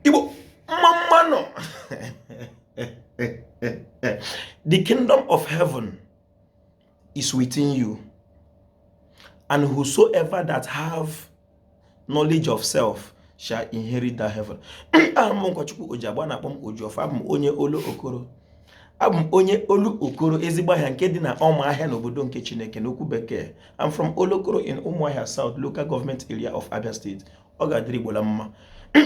igbo mma mma nụ the kingdom of heaven is within you and whosoever that have knowledge of self shall inherit that heaven abụ m nkwachukwu ojiagba na-akpọ m ojiọfọ abụ m onye olokoro abụ m onye olokoro ezigbo ahịa nke dị na ọma ahịa n'obodo nke chineke n'okwu bekee I'm from olokoro in ụmụahịa south local government area of abia state ọ ga-adịrị Igbo la mma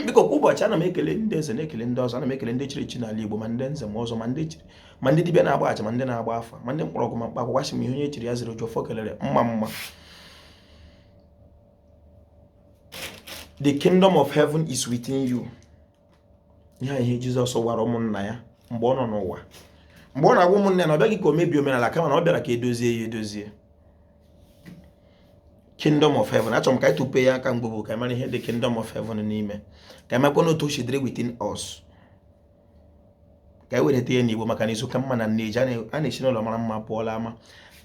biko kwa ụbọchị ana m ekele ndị eze na-ekele ndị ọzọ ana m ekele ndị chiri echi n'ala Igbo ma ndị nze ma ọzọ ma ndị chiri ma ndị dibịa na-agba aja ma ndị na-agba afa ma ndị mkpọrọgwụ ma mkpa akwụkwọ asị m ihe onye chiri ya ziri ojiọfọ kelere mma mma the kingdom of heaven is within you ihe ihe jizọs gwara ụmụnna ya mgbe ọ nọ n'ụwa mgbe ọ na-agwa ụmụnna ya na ọ bịaghị ka o mebie omenala kama na ọ bịara ka edozie ya edozie kingdom of heaven achọrọ m ka anyị tupe ya aka mgbe ka anyị mara ihe the kingdom of heaven n'ime ka anyị makwa otu o si dịrị within us ka anyị wereta ya n'igbo maka na izu ka mma na nneji a na-esi n'ụlọ mara mma pụọ la ama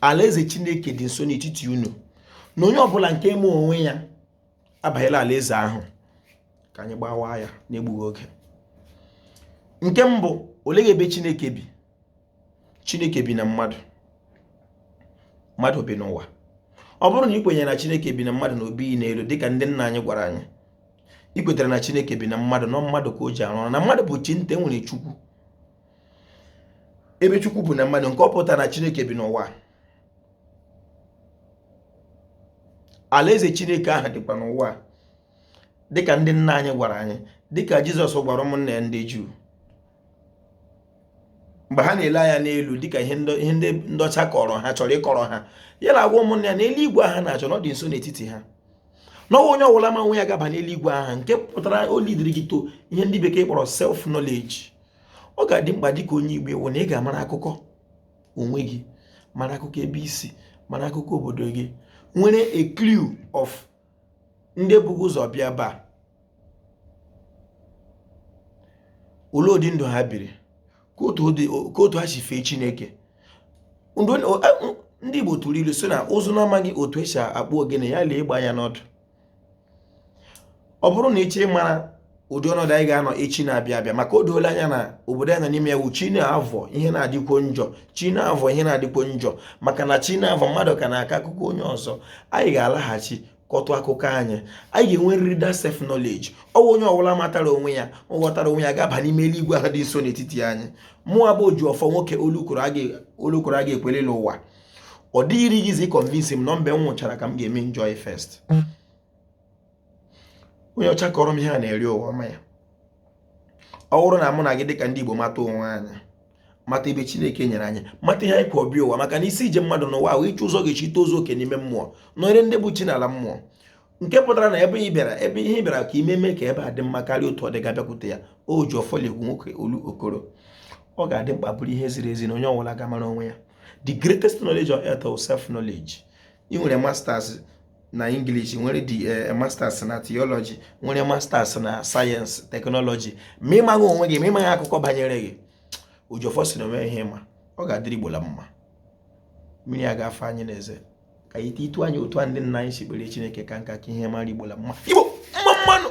alaeze chineke dị nso n'etiti unu na onye ọbụla nke ma onwe ya abanyela alaeze ahụ ka anyị gbawa ya n'egbughị oge nke mbụ olee ebe chineke bi chineke bi na mmadụ mmadụ bi n'ụwa ọ bụrụ na ị kwenyere na chineke bi na mmadụ na o bighị n'elu dịka ndị nna anyị gwara anyị ị kwetara na chineke bi na mmadụ na mmadụ ka o ji arụ ọrụ na mmadụ bụ chi nta e nwere chukwu ebe chukwu bụ na mmadụ nke ọ pụtara na chineke bi n'ụwa alaeze chineke ahụ dịkwa n'ụwa dịka ndị nna anyị gwara anyị dịka jizọs gwara ụmụnne ya ndị juu mgbe ha na-ele anya n'elu dịka ihe ndị ndị ọcha kọrọ ha chọrọ ịkọrọ ha ya na-agwa ụmụnne ya na eluigwe ahụ ha na-achọ na ọ dị nso n'etiti ha na ọ wụ onye ọbụla ma onwe ya ga-aba n'eluigwe ahụ nke pụtara o lidiri gị to ihe ndị bekee kpọrọ self knowledge ọ ga-adị mkpa dịka onye igbo ị wụ na ị ga-amara akụkọ onwe gị mara akụkọ ebe i si mara akụkọ obodo gị nwere a clue of ndị bu gị ụzọ bịa ebe a olee ụdị ndụ ha biri ka otu ha si fee chineke ndị igbo tụrụ ilu sị na ụzụ na-amaghị otu e si akpụ ogene ya lee egbe anya n'ọdụ ọ bụrụ na ị chọọ ịmara ụdị ọnọdụ anyị ga-anọ echi na-abịa abịa maka o doola anya na obodo anyị nọ n'ime ya wụ chi na-avọ ihe na-adịkwo njọ chi na-avọ ihe na-adịkwo njọ maka na chi na-avọ mmadụ ka na-akọ akụkọ onye ọzọ anyị ga-alaghachi kọtụ akụkọ anyị anyị ga-enwerịrị that self knowledge ọ wụ onye ọbụla matara onwe ya ọ ghọtara onwe ya ga-aba n'ime eluigwe ahụ dị nso n'etiti anyị mụwa bụ ojiọfọ nwoke olokoro a ga-ekwelele ụwa ọ dịghịrị gịzi ịconvince m na mgbe m nwụchara ka m ga-eme enjoy first onye ọcha kọrọ m ihe a na-eri ụwa ọma ya ọ bụrụ na mụ na gị dịka ndị Igbo mata onwe anyị mata ebe Chineke nyere anyị mata ihe anyị kwọ bịa ụwa maka na isi ije mmadụ n'ụwa wụ ịchọ ụzọ ọ ga-esi tozuo oke n'ime mmụọ nọnyere ndị bụ chi n'ala mmụọ nke pụtara na ebe ihe ị bịara ka i me mee ka ebe a dị mma karịa otu ọ dị gị abịakwute ya Ojiọfọ la-ekwu nwoke Olokoro ọ ga-adị mkpa bụrụ ihe ziri ezi na onye ọbụla ga-amara onwe ya the greatest knowledge on earth is self knowledge ị nwere masters na English nwere the eh, eh, masters na theology nwere masters na science technology ma ị maghị onwe gị ma ị maghị akụkọ banyere gị Ojiọfọ sị na o nweghị ihe ị ma ọ ga-adịrị Igbo la mma mmiri agaghị afọ anyị n'eze ka anyị tiitụ anya otu ndị nna anyị si kpere Chineke ka nka ka ihe mara Igbo la mma Igbo mma mma nụ